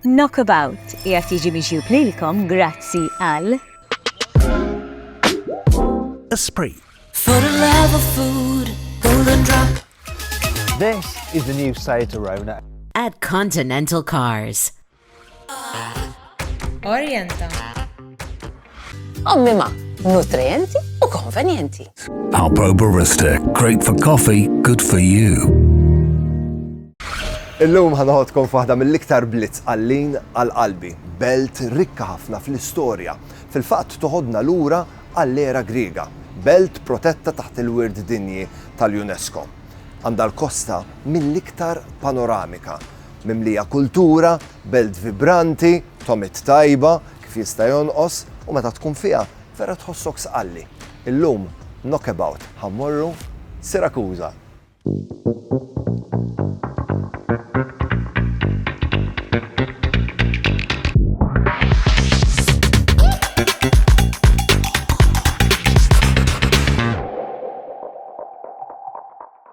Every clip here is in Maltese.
Knockabout qiegħed jiġi miġjub lilkom grazzi għal. Esprit. For the love of food, golden drop. This is the new Seat Arona. At Continental Cars. Orienta. Ommima, nutrienti u konvenjenti. Alpro Barista, great for coffee, good for you. Illum ħanħodkom f'waħda mill-iktar blitz għallin għal qalbi, belt rikka ħafna fl-istorja, fil-fatt toħodna lura għall-era Griega, belt protetta taħt il-wirt dinji tal-UNESCO. Għandha l-kosta mill-iktar panoramika, mimlija kultura, belt vibranti, tomit tajba, Kif jista' jonqos u meta tkun fiha vera tħossok sqalli. Illum, Knockabout, ħa mmorru Sirakuża.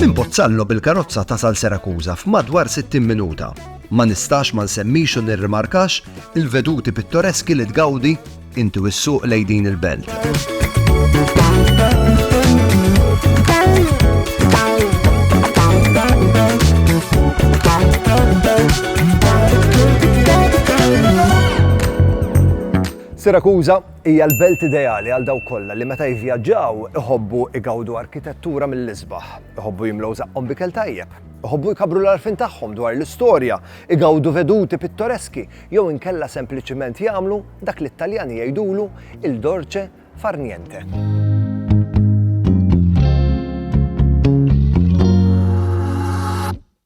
Minn Pozzallo bil-karozza tasal Serakuza f'madwar 60 minuta. Ma nistax ma nsemmix u nirrimarkax il-veduti pittoreski li tgawdi inti u s-suq lej din il-belt. Sirakuża hija l-belt ideali għal dawk kollha li meta jivvjaġġaw iħobbu igawdu arkitettura mill-isbaħ, iħobbu jimlew żaqqhom b'ikel tajjeb, iħobbu jkabbru l-għarfien tagħhom dwar l-istorja, igawdu veduti pittoreski jew inkella sempliċiment jagħmlu dak li t-Taljani jgħidulu il dolce far niente.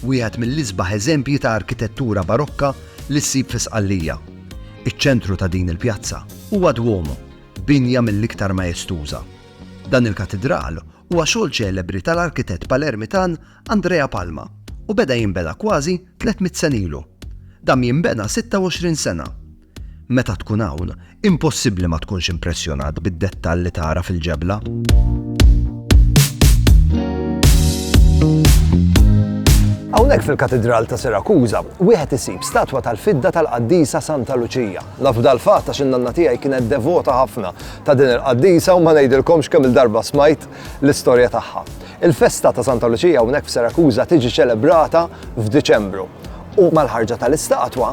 Wieħed mill-isbaħ eżempji ta' arkitettura Barokka li ssib fi Sqallija. Iċ-ċentru ta' din il-pjazza huwa Duomo, binja mill-iktar maestuża. Dan il-katidral huwa xogħol ċelebri tal-arkitett Palermitan Andrea Palma u beda jinbena kważi tliet mitt sena ilu. Dam jinbena 26 sena. Meta tkun hawn, impossibbli ma tkunx impressjonat bid-dettall li tara fil-ġebla. Hawnhekk fil-Katidral ta' Sirakuża, wieħed isib statwa tal-fidda tal-qaddisa Santa Luċija. Naf dal-fatt għax in-nanna tiegħi kienet devota ħafna ta' din il-qaddisa u ma ngħidilkomx kemm il-darba smajt l-istorja tagħha. Il-festa ta' Santa Luċija hawnhekk f'Sirakuża tiġi ċelebrata f'Diċembru. U mal-ħarġa tal-istatwa,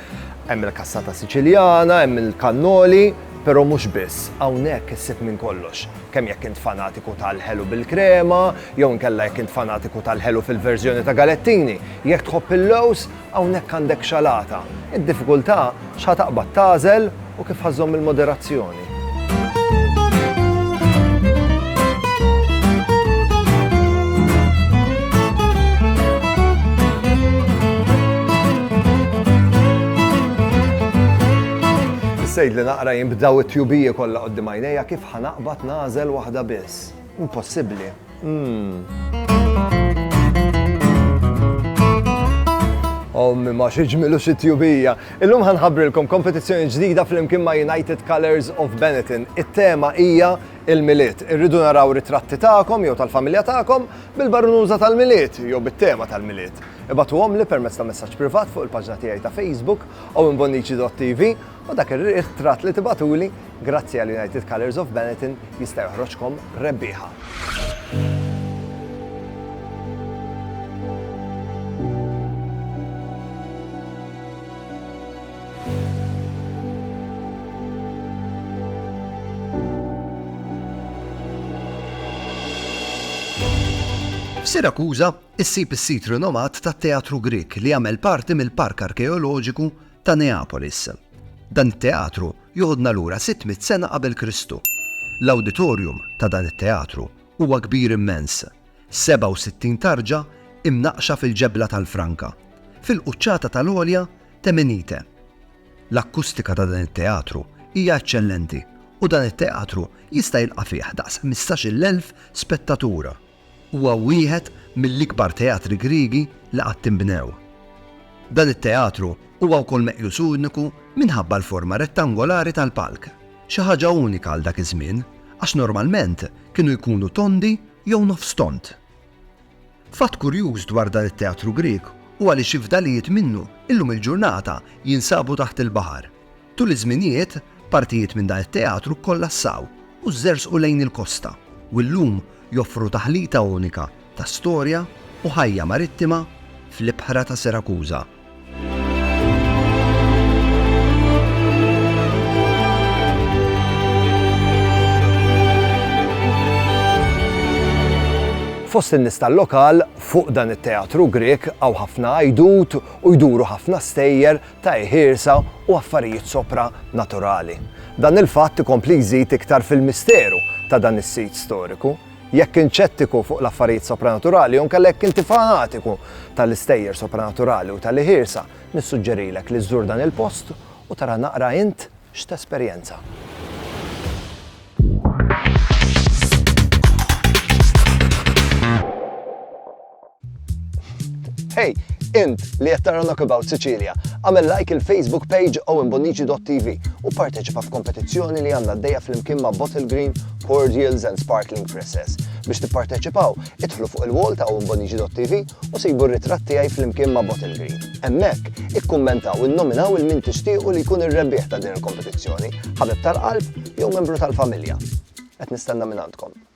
Hemm il-kassata Siċiljana, hemm il-kannoli, però mhux biss, hawnhekk issib minn kollox. Kemm jekk int fanatiku tal-ħelu bil-krema, jew inkella jekk int fanatiku tal-ħelu fil-verżjoni ta' galettini, jekk tħobb il-lewż, hawnhekk għandek xalata. Id-diffikultà x'ħa taqbad tagħżel u kif ħa żżomm il-moderazzjoni. Is-sejd li naqra jinbdaw it-tjubiji kollha qoddim għajnejja kif ħa naqbad nagħżel waħda biss. Impossibbli. Ommi ma xi ġmilu xi tjubija. Illum ħanħabbrilkom kompetizzjoni ġdida flimkien ma' United Colors of Benetton. It-tema hija il-milied. Irridu naraw ritratti tagħkom jew tal-familja tagħkom bil-barunuża tal-milied jew bit-tema tal-milied. Ibatuhomli permezz ta' messaġġ privat fuq il-paġna tiegħi ta' Facebook owenbonnici.tv U dak ir-riħ tratt li tibgħatuli, grazzi għal United Colours of Benetton, jista' joħroġkom rebbieħa. F'Sirakuża issib is-sit rinomat tat-Teatru Grieg li jagħmel parti mill-Park Arkeoloġiku ta' Neapolis. Dan it-teatru joħodna lura sitt mitt sena qabel Kristu. L-awditorium ta' dan it-teatru huwa kbir immens, 67 tarġa imnaqqxa fil-ġebla tal-franka, fil-quċċata tal-għolja t'Emenite. L-akkustika ta' dan it-teatru hija eċċellenti u dan it-teatru jista' jilqa' fih daqs ħmistax-il elf spettatur. Huwa wieħed mill-ikbar teatri Griegi li qatt inbnew. Dan it-teatru huwa wkoll meqjus uniku minħabba l-forma rettangolari tal-palk, xi ħaġa unika għal dak iż-żmien għax normalment kienu jkunu tondi jew nofs tond. Fatt kurjuż dwar dan it-teatru Grieg huwa li xi fdalijiet minnu illum il-ġurnata jinsabu taħt il-baħar. Tul iż-żminijiet, partijiet minn dan it-teatru kkollassaw u żerżqu lejn il-kosta u llum joffru taħlita unika ta' storja u ħajja marittima fl-ibħra ta' Sirakuża. Fost in-nies tal-lokal, fuq dan it-teatru Grieg hawn ħafna għajdut u jduru ħafna stejjer, ta' iħirsa u affarijiet sopra naturali. Dan il-fatt ikompli jżid iktar fil-misteru ta' dan is-sit storiku. Jekk int xettiku fuq l-affarijiet sopranaturali jew inkella jekk inti fanatiku tal-istejjer sopranaturali u tal-iħirsa, nissuġġerilek li żżur dan il-post u tara naqra int x'tesperjenza. Hey, int li qed tara Knockabout Sicilia, għamel like il-Facebook page owenbonnici.tv u parteċipa f'kompetizzjoni li għandna għaddejja flimkien ma' Bottle Green, Cordials and Sparkling Presses. Biex tipparteċipaw, idħlu fuq il-wall ta' owenbonnici.tv u sibu r-ritratt tiegħi flimkien ma' Bottle Green. Hemmhekk, ikkummentaw innominaw il min tixtiequ li jkun ir-rebbieħ ta' din il-kompetizzjoni, ħabib tal-qalb jew membru tal-familja. Qed nistenna minn għandkom.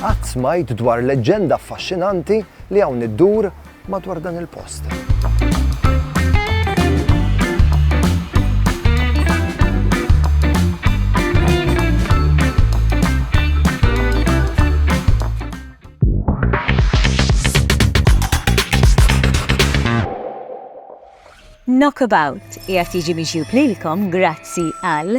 Qatt smajt dwar leġġenda affaxxinanti li hawn iddur madwar dan il-post. Knockabout qiegħed jiġi mixjub lilkom grazzi għal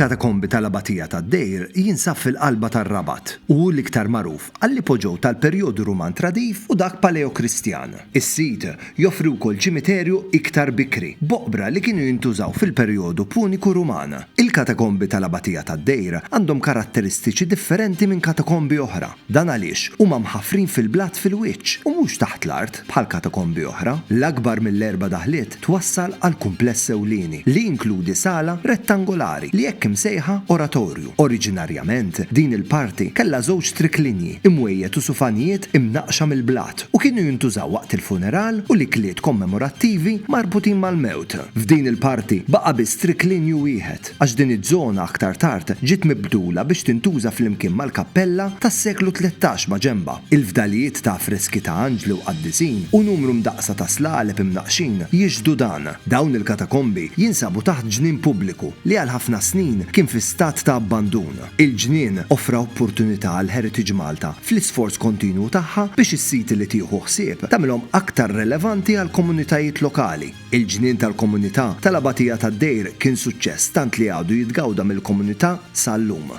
Il-katakombi tal-Abatija tad-Dejr jinsab fil-qalba tar-Rabat u hu l-iktar magħruf għall-ipoġew tal-perjodu Ruman tradiv u dak Paleokristjan. Is-sit joffri wkoll ċimiterju iktar bikri, b'oqbra li kienu jintużaw fil-perjodu Puniku Ruman. Il-katakombi tal-Abatija tad-Dejr għandhom karatteristiċi differenti minn katakombi oħra. Dan għaliex huma mħaffrin fil-blat fil-wiċċ u mhux taħt l-art bħal katakombi oħra. L-akbar mill-erba' daħliet twassal għal kumpless ewlieni li jinkludi sala rettangolari li hekk imsejħa oratorju. Oriġinarjament, din il-parti kellha żewġ triklinji, imwejjed u sufanijiet imnaqqxa mill-blat u kienu jintużaw waqt il-funeral u l-ikliet kommemorattivi marbutin mal-mewt. F'din il-parti baqa' biss triklinju wieħed. għax din iż-żona aktar tard ġiet mibdula biex tintuża flimkien mal-kappella tas-seklu tlettax maġenbha. Il-fdalijiet ta' affreski ta' anġli u qaddisin u numru mdaqqsa ta' slaleb imnaqqxin jixhdu dan. Dawn il-katakombi jinsabu taħt ġnien pubbliku li għal ħafna snin kien fi stat ta' abbandun. Il-ġnien offra opportunità għal Heritage Malta fl-isforz kontinwu tagħha biex is-siti li tieħu ħsieb tagħmilhom aktar relevanti għall-komunitajiet lokali. Il-Ġnien tal-Komunità tal-Abatija tad-Dejr kien suċċess tant li għadu jitgawda mill-komunità sal-lum.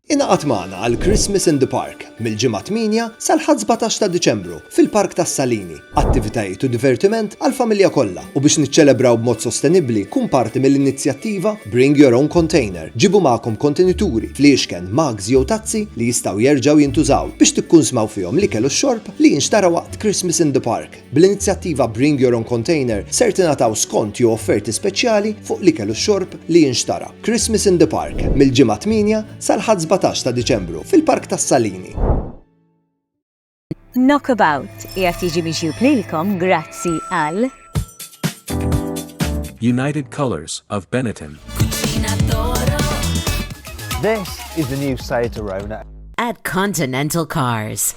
Ingħaqad magħna għal Christmas in the Park mill-Ġimgħa 8 sal-Ħadd 17 ta' Diċembru fil-Park tas-Salini. Attivitajiet u divertiment għall-familja kollha u biex niċċelebraw b'mod sostenibbli kun parti mill-inizjattiva Bring Your Own Container, ġibu magħkom kontenituri, fliexken, mugs jew tazzi li jistgħu jerġgħu jintużaw biex tikkunsmaw fihom l-ikel u x-xorb. li jinxtara waqt Christmas in the Park. Bl-inizjattiva Bring Your Own Container ser tingħataw skont jew offerti speċjali fuq l-ikel u x-xorb li jinxtara. Christmas in the Park mill-ġimgħa 8 sal-Ħadd 17 ta' Diċembru fil-Park tas-Salini. Knockabout qiegħed jiġi miġjub lilkom grazzi għal United Colors of Benetton. This is the new Seat Arona. At Continental Cars.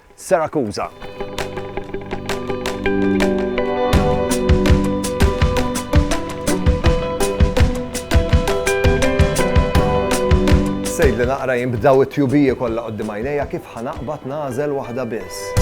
Sirakuża. Sejdli naqra jien b'daw it-tjubiji kollha qoddim għajnejja kif ħa naqbad nagħżel waħda biss.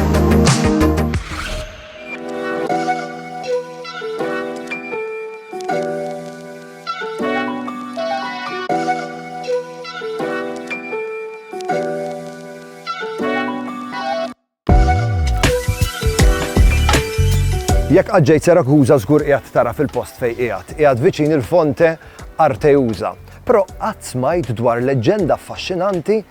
Jekk qaġġejt Serakuża żgur qiegħed tara fil-post fejn qiegħed, qiegħed viċin il-fonte Arteuża. Però qatt smajt dwar leġġenda affaxxinanti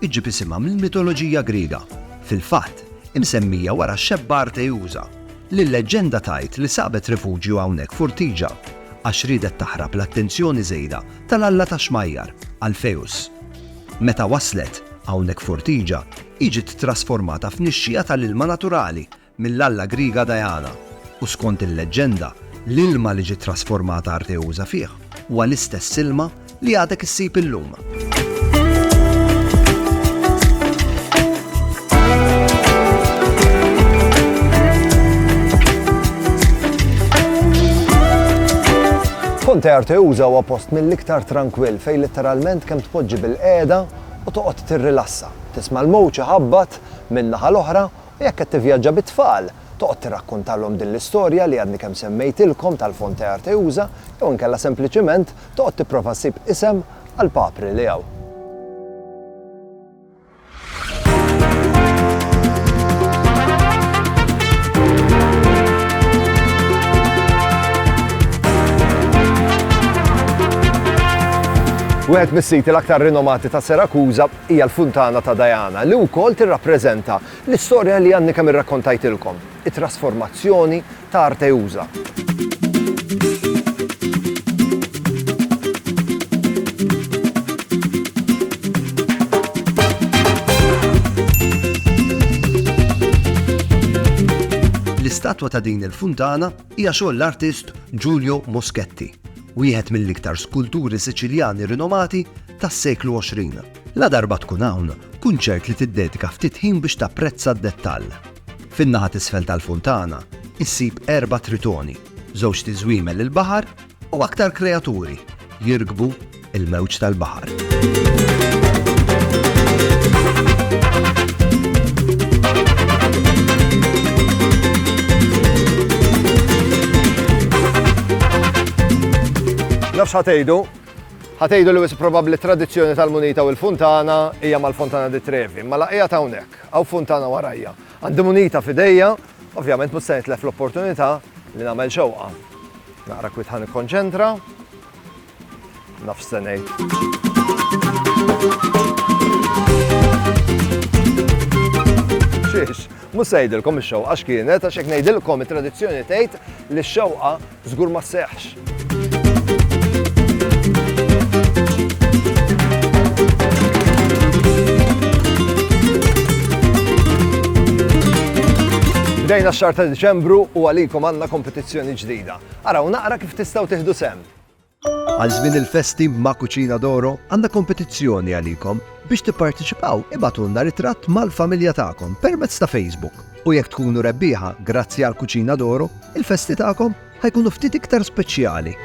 Iġġib isimha mill-mitoloġija Griega. Fil-fatt, hi msemmija wara x-xebba Arteusa, li l-leġġenda tgħid li sabet rifuġju hawnhekk f'Urtiġa għax riedet taħrab l-attenzjoni żejda tal-alla tax-xmajjar, Alpheus. Meta waslet hawnhekk f'Urtiġa, hi ġiet ttrasformata f'nixxiegħa tal-ilma naturali mill-alla Griega Diana, u skont il-leġġenda, l-ilma li ġiet trasformata Arteusa fih huwa l-istess ilma li għadek issib illum. Ponte Arteusa huwa post mill-iktar tranquill fejn litteralment kemm tpoġġi bil-qiegħda u toqgħod tirrilassa. Tisma' l-mowġ iħabbat minn naħa l-oħra Jekk qed tivvjaġġa bit-tfal, toqgħod tirrakkuntalhom din l-istorja li għadni kemm semmejtilkom tal-Fonte Arteusa jew inkella sempliċiment toqgħod tipprova ssib isem għall-papri li hawn. Wieħed mis-siti l-aktar rinomati ta' Sirakuża hija l-Funtana ta' Diana, li wkoll tirrappreżenta l-istorja li għadni kemm irrakkontajtilkom, it-trasformazzjoni ta' Arteusa. L-istatwa ta' din il-funtana hija xogħol l-artist Giulio Moschetti, wieħed mill-iktar skulturi Siċiljani rinomati tas-seklu 20. Ladarba tkun hawn, kun ċert li tiddedika ftit ħin biex tapprezza d-dettall. Fin-naħa t'isfel tal-funtana, issib erba' tritoni, żewġt iżwiemel il-baħar u aktar kreaturi jirkbu l-mewġ tal-baħar. Nafx ħa tgħidu, Ħa tgħidu li wisq probabbli t-tradizzjoni tal-munita u l-funtana hija mal-Fontana di Trevi, imma la qiegħed hawnhekk, hawn funtana warajja. Għandi munita f'idejja, ovvjament mhux se nitlef l-opportunità li nagħmel xewqa. Naqra kwit ħa nikkonċentra. Naf se ngħid. Xiex, mhux se ngħidilkom ix-xewqa x'kienet għax hekk ngħidilkom it-tradizzjoni tgħid li x-xewqa Żgur ma Bdejna x-xar ta' Diċembru u għalikom għandna kompetizzjoni ġdida. Araw naqra kif tistgħu tieħdu sem. Għal żmien il-festi ma' Cucina d'Oro għandna kompetizzjoni għalikom. Biex tipparteċipaw ibgħatulna ritratt mal-familja tagħkom permezz ta' Facebook u jekk tkunu rebbieħa grazzi għal Cucina d'Oro, il-festi tagħkom ħa jkunu ftit iktar speċjali.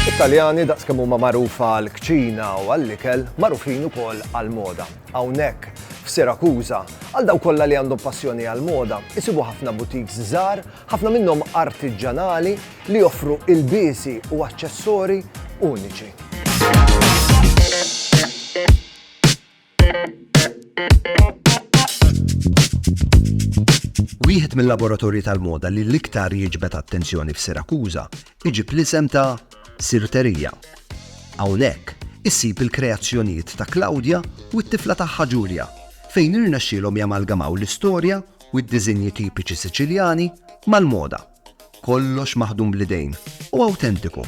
It-Taljani daqskemm huma magħrufa għal kċina u għall-ikel magħrufin ukoll għal moda. Hawnhekk f'Sirakuża, għal daw kollha li għandhom passjoni għal moda, isibu ħafna butiks żgħar Ħafna minnhom artiġġanali li joffru ilbiesi u aċċessori uniċi. Wieħed mill-laboratorji tal-moda li l-iktar jiġbed attenzjoni f'Sirakuża iġib l-isem ta' Sirterija. Hawnhekk issib il-kreazzjonijiet ta' Claudia u t-tifla tagħha Ġulja fejn irnexxielhom jamalgamaw l-istorja u d-diżinji tipiċi Siċiljani mal-moda, kollox maħdum bl-idejn u awtentiku.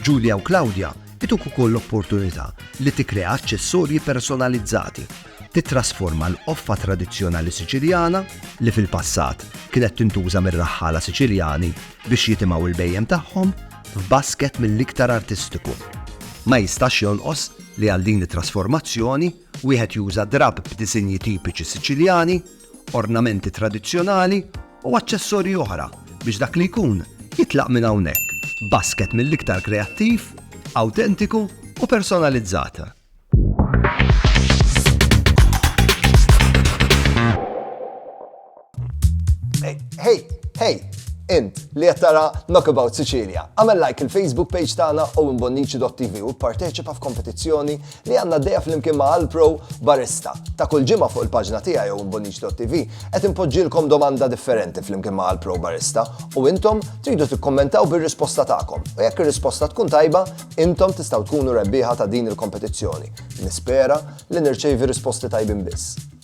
Julia u Claudia ituk ukoll l-opportunità li tikkrea aċċessorji personalizzati, tittrasforma l-qoffa tradizzjonali Siċiljana, li fil-passat kienet tintuża mir-raħħala Siċiljani biex jitimgħu l-bhejjem tagħhom, f'basket mill-iktar artistiku. Ma jistax jonqos li għal din it-trasformazzjoni, Wieħed juża drapp b'disinji tipiċi Siċiljani, ornamenti tradizzjonali u aċċessorji oħra biex dak li jkun jitlaq minn hawnhekk b'basket mill-iktar kreattiv, awtentiku u personalizzat. Hey, hey, int li qed tara Knockabout Sicilia, għamel like il-Facebook page tagħna Owen Bonnici.tv u pparteċipa f'kompetizzjoni li għandna dejja flimkien ma' Alpro Barista. Ta' kull ġimgħa fuq il-paġna tiegħi Owen Bonnici.tv qed inpoġġilkom domanda differenti flimkien ma' Alpro Barista u intom tridu tikkommentaw bir-risposta tagħkom. U jekk ir-risposta tkun tajba, intom tistgħu tkunu rebbieħa ta' din il-kompetizzjoni. Nispera li nirċevi risposti tajbin biss.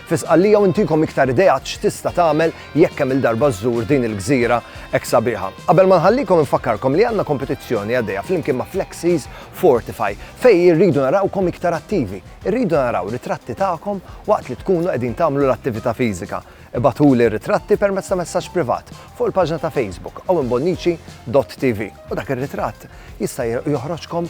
Fi Sqallija u ntikom iktar ideat x'tista' tagħmel jekk kemm-il darba żżur din il-gżira hekk sabiħa. Qabel ma nħallikom infakkarkom li għandna kompetizzjoni għaddejja flimkien ma' Flexies Fortify fejn irridu narawkom iktar attivi. Irridu naraw ritratti tagħkom waqt li tkunu qegħdin tagħmlu l-attività fiżika. Ibagħtuli r-ritratti permezz ta' messaġġ privat fuq il-paġna ta' Facebook awinbonnici.tv u dak ir-ritratt jista' joħroġkom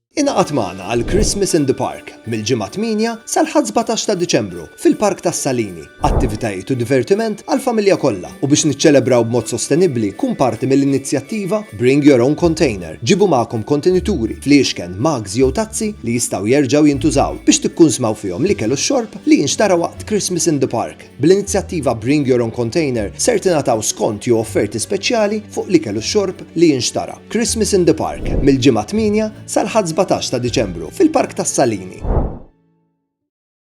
Ingħaqad magħna għal Christmas in the Park mill-Ġimgħa 8 sal-Ħadd 17 ta' Diċembru fil-Park tas-Salini. Attivitajiet u divertiment għall-familja kollha u biex niċċelebraw b'mod sostenibbli kun parti mill-inizjattiva Bring Your Own Container, ġibu magħkom kontenituri, fliexken, mugs jew tazzi li jistgħu jerġgħu jintużaw biex tikkunsmaw fihom l-ikel u x-xorb li jinxtara waqt Christmas in the Park. Bl-inizjattiva Bring Your Own Container ser tingħataw skonti u offerti speċjali fuq l-ikel u x-xorb li jinxtara. Christmas in the Park, mill-Ġimgħa 8 sal-Ħadd 17 ta' Diċembru, fil-Park tas-Salini.